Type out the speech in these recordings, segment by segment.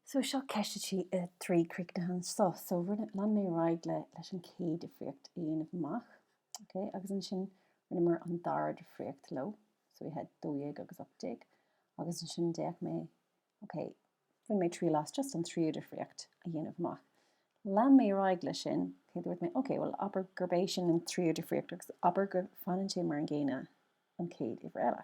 So seo ceist a trí, a trí a chríochnú anso. So rinne, lean mé ar aghaidh le, leis an chéad difríocht a dhéanamh amach, ok, agus ansin rinneamar an dara difríocht leo, so we had dó dhéag agus ocht déag, agus ansin d'fhéach mé, ok, rinne mé triail as just an tríú difríocht a dhéanamh amach. Lean mé ar aghaidh leis sin, ok, dúirt mé, ok, bhuel abair gurb é sin an tríú difríocht agus abair go fanann sé mar an gcéanna an chéad uimhir eile.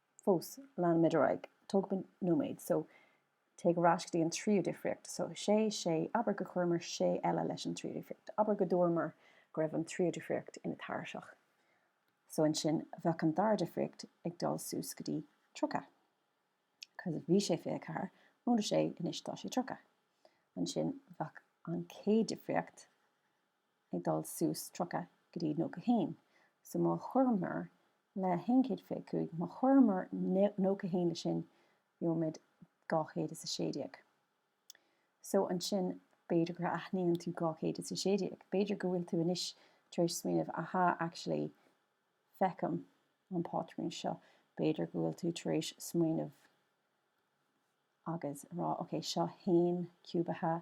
fós, leanaimid ar aghaidh, tógfaimid nóiméad, so, téigh ar ais go dtí an tríú difríocht, so, sé, sé, abair gur chuireamar sé eile leis an tríú difríocht, abair go dúramar go raibh an tríú difríocht ina tairiseach, so ansin bheadh an dara difríocht ag dul suas go dtí tríocha, cos bhí sé fiche a ceathair, móide sé, anois tá sé tríocha, ansin bheadh an chéad difríocht, ag dul suas tríocha go dtí nócha a haon. So má chuireamar le haon chéad fiche cúig, má chuireamar nócha a haon le sin, gheobhaimid dhá chéad is a sé déag. So ansin b'fhéidir gur aithníonn tú dhá chéad is a sé déag, b'fhéidir go bhfuil tú anois tar éis smaoineamh, aha, actually, feicim an pátrún seo, b'fhéidir go bhfuil tú tar éis smaoineamh agus a rá, ok, seo haon ciúbaithe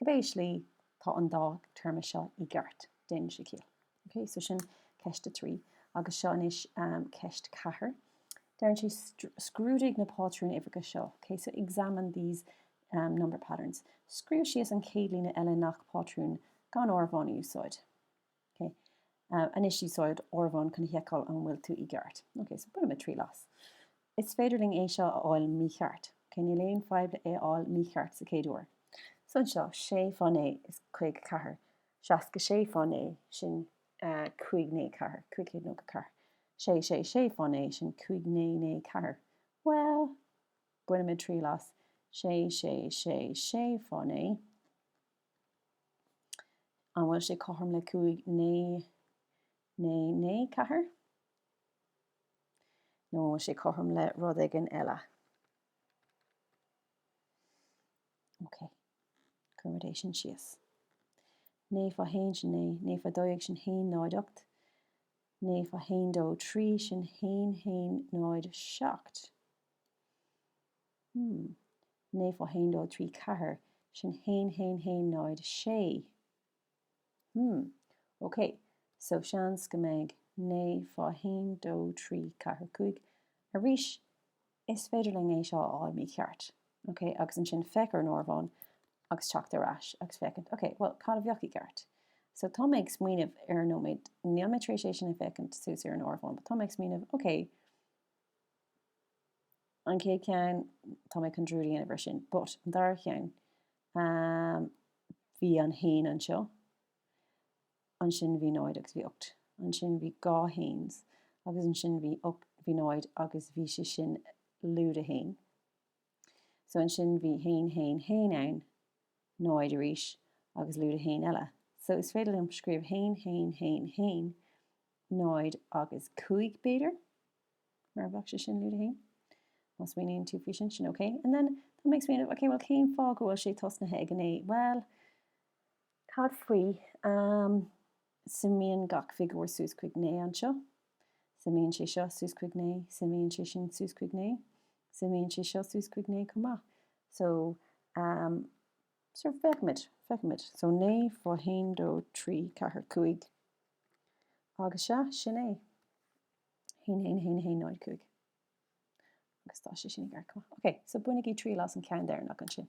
Cibé slí, tá an dá téarma seo i gceart, déanann sé ciall. Ok, so sin ceist a trí, agus seo anois ceist a ceathair. Deireann sé scrúdaigh na pátrúin uimhreacha seo, ok, so examine these number patterns. Scríobh síos an chéad líne eile i ngach pátrún gan áireamhán a úsáid. Ok, anois úsáid áireamhán chun a sheiceáil an bhfuil tú i gceart. Ok, so bainfimid triail as. Is féidir linn é seo a fháil mícheart. Ok, níl aon fhadhb le é a fháil mícheart sa chéad uair. So anseo, sé fá naoi is caoga ceathair, seasca sé fá naoi, sin cúig naoi ceathair, cúig chéad nócha ceathair. Sé sé sé fá naoi, sin cúig naoi naoi ceathair. Bhuel, bainfimid triail as. Sé sé sé sé fá naoi. An bhfuil sé cothrom le cúig naoi naoi naoi ceathair? Nó an bhfuil sé cothrom le rud éigin eile? Ok. Cuirfimid é sin síos. Naoi fá haon sin naoi, naoi fá dó dhéag sin haon náid ocht, naoi fá haon dó trí sin haon haon náid seacht. Hmm. naoi fá haon dó trí ceathair, sin haon haon haon náid sé. Hmm. ok, so seans go mbeidh naoi fá haon dó trí ceathair cúig, arís is féidir linn é seo a fháil mícheart, ok, agus ansin féach ar an áireamhán agus teacht ar ais agus féachaint, ok, bhuel, cad a bheadh i gceart? So tá mé ag smaoineamh ar an nóiméad, níl mé tar éis é sin a fhéachaint suas ar an áireamhán but tá mé ag smaoineamh, ok, an chéad cheann, tá mé chun dearúd a dhéanamh air sin, but an dara cheann, ahm, bhí an haon anseo, ansin bhí náid agus bhí ocht, ansin bhí dhá haon's agus ansin bhí ocht, bhí náid agus bhí sé sin lúide haon, so ansin bhí haon, haon, haon ann, náid arís agus lúide haon eile, so is féidir liom scríobh haon, haon, haon, haon, náid agus cúig b'fhéidir? Mar bheadh sé sin lúide haon. Má smaoiníonn tú faoi sin, ok. And then that makes me, ok, bhuel cén fáth go bhfuil sé tosnaithe ag an naoi? Bhuel, cad faoi, ehm, suimíonn gach figiúr suas chuig naoi anseo, suimíonn sé seo suas chuig naoi, suimíonn sé sin suas chuig naoi, suimíonn sé seo suas chuig naoi chomh maith. So, ehm, so feicimid, feicimid. So 9 fá 1 2 3 4 5 agus sea, sin é. 1-1-1-1-0-5 Agus tá sé sin i gceart chomh maith. Ok, so bainigí triail as an ceann deireanach ansin.